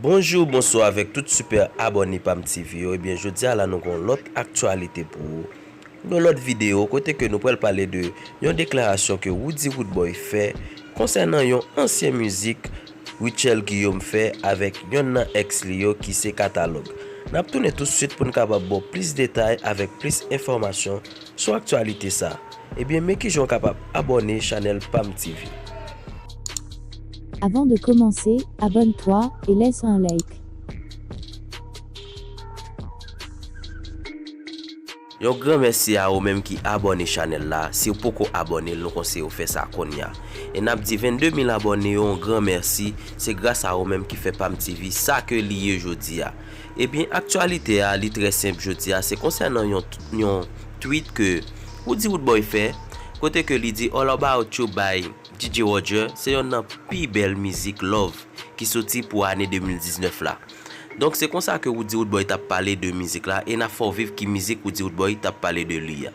Bonjour bonsoir avèk tout super abòne pamtv yo ebyen jodia la nou gon lòt aktyalite pou ou yon lòt video kote ke nou pral pale de yon deklarasyon ke Roody Roodboy fè konsènan yon ansyen mizik Rutshelle Guillaume fè avèk yonn nan ex li yo ki se Katalòg nap tounen tout swit poun kapab baw plis detay avèk plis enfòmasyon Sou aktyalite sa, ebyen men kijan w kapab abòne chanèl pam TV. Avant de commencer, abonne toi et laisse un like. Yon gran mèsi a ou menm ki abòne chanèl la, siw poko abòne nou konseyew fè sa konnya. E nap di 22 mil abòne yo yon gran mèsi, se gras a ou menm ki fè pam TV sa ke li ye jodia. Ebyen aktyalite a li trè senp jodi a se konsènan yon yon tweet ke Roody Roodboy fè kote ke li di All About You by DJ Roger se yonn nan pi bèl mizik love ki soti pou ane 2019 la. Donk se konsa ke Roody Roodboy tap pale de mizik la e na fè w viv ki mizik Roody Roodboy tap pale de li a.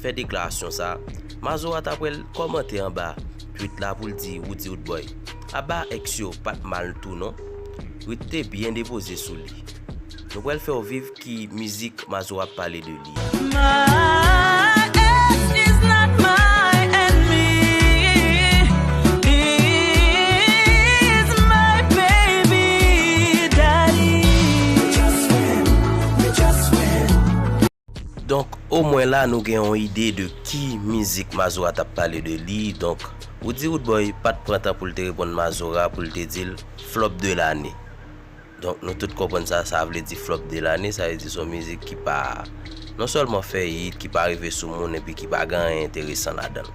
fè deklarasyon sa, Mazora ta pwèl kòmante anba tweet la poul di Roody Roodboy aba ex yo pat mal tou non, Ruth te byen depoze sou li. Nou pwèl fèw viv ki mizik Mazora ap pale de li a. My ex is not my enemy He's my baby daddy We just friend, we just friend. Donk o mwen la nou gen yon ide de ki mizik Mazora t ap pale de li, donk ou di Roodboy pa t pran tan pou l te reponn Mazora pou l te di l flop de lane. Donk nou tout konprann sa sa vle di flop de lane, sa vle di se yon mizik ki pa non sèlman fè hit, ki pa rive sou moun epi ki pa gen anyen enteresan ladan l.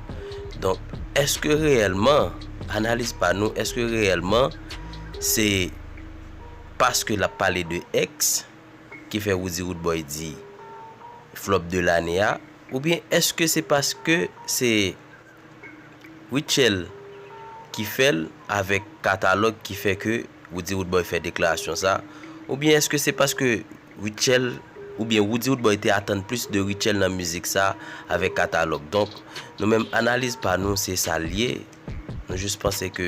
Donk èske reyèlman, analiz pa nou, èske reyèlman se paske l ap pale de ex? ki fè Roody Roodboy di flop de lane a oubyen eske se paske se Rutshelle ki fèl avèk katalòg ki fè ke Roody Roodboy fè deklarasyon sa oubyen eske se paske Rutshelle oubyen Roody Roodboy te atann plis de Rutshelle nan mizik sa avèk katalòg donk nou menm analiz pa nou se sal ye Nou jis panse ke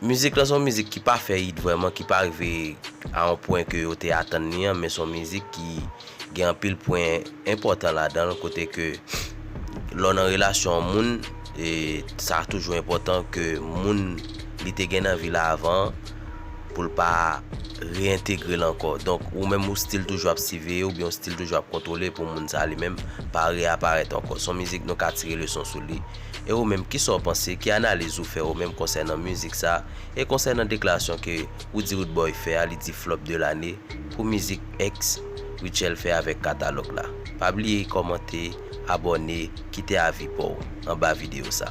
mizik lan son mizik ki pa fè it vrèman, ki pa rive a yon pwen ke yo te atann li an, men son mizik ki gen anpil pwen enpòtan ladan l, kote ke lè w nan relasyon an moun, sa toujou enpòtan ke moun li te gen nan vi l avan an, pou l pa reyentegre l ankò. Donk, ou menm ou stil toujou ap siveye oubyen ou stil toujou ap kontwole pou moun sa li menm pa reyaparèt ankò. S on mizik nou ka tire leson sou li. E ou menm, kisa w panse? Ki analiz ou fè ou menm konsènan mizik sa e konsènan deklarasyon ke Roody Roodboy fè a, li di flop de lane pou mizik Ex Rutshelle fè avèk Katalòg la? Pa bliye kòmante, abòne, kite avi pa w anba videyo sa.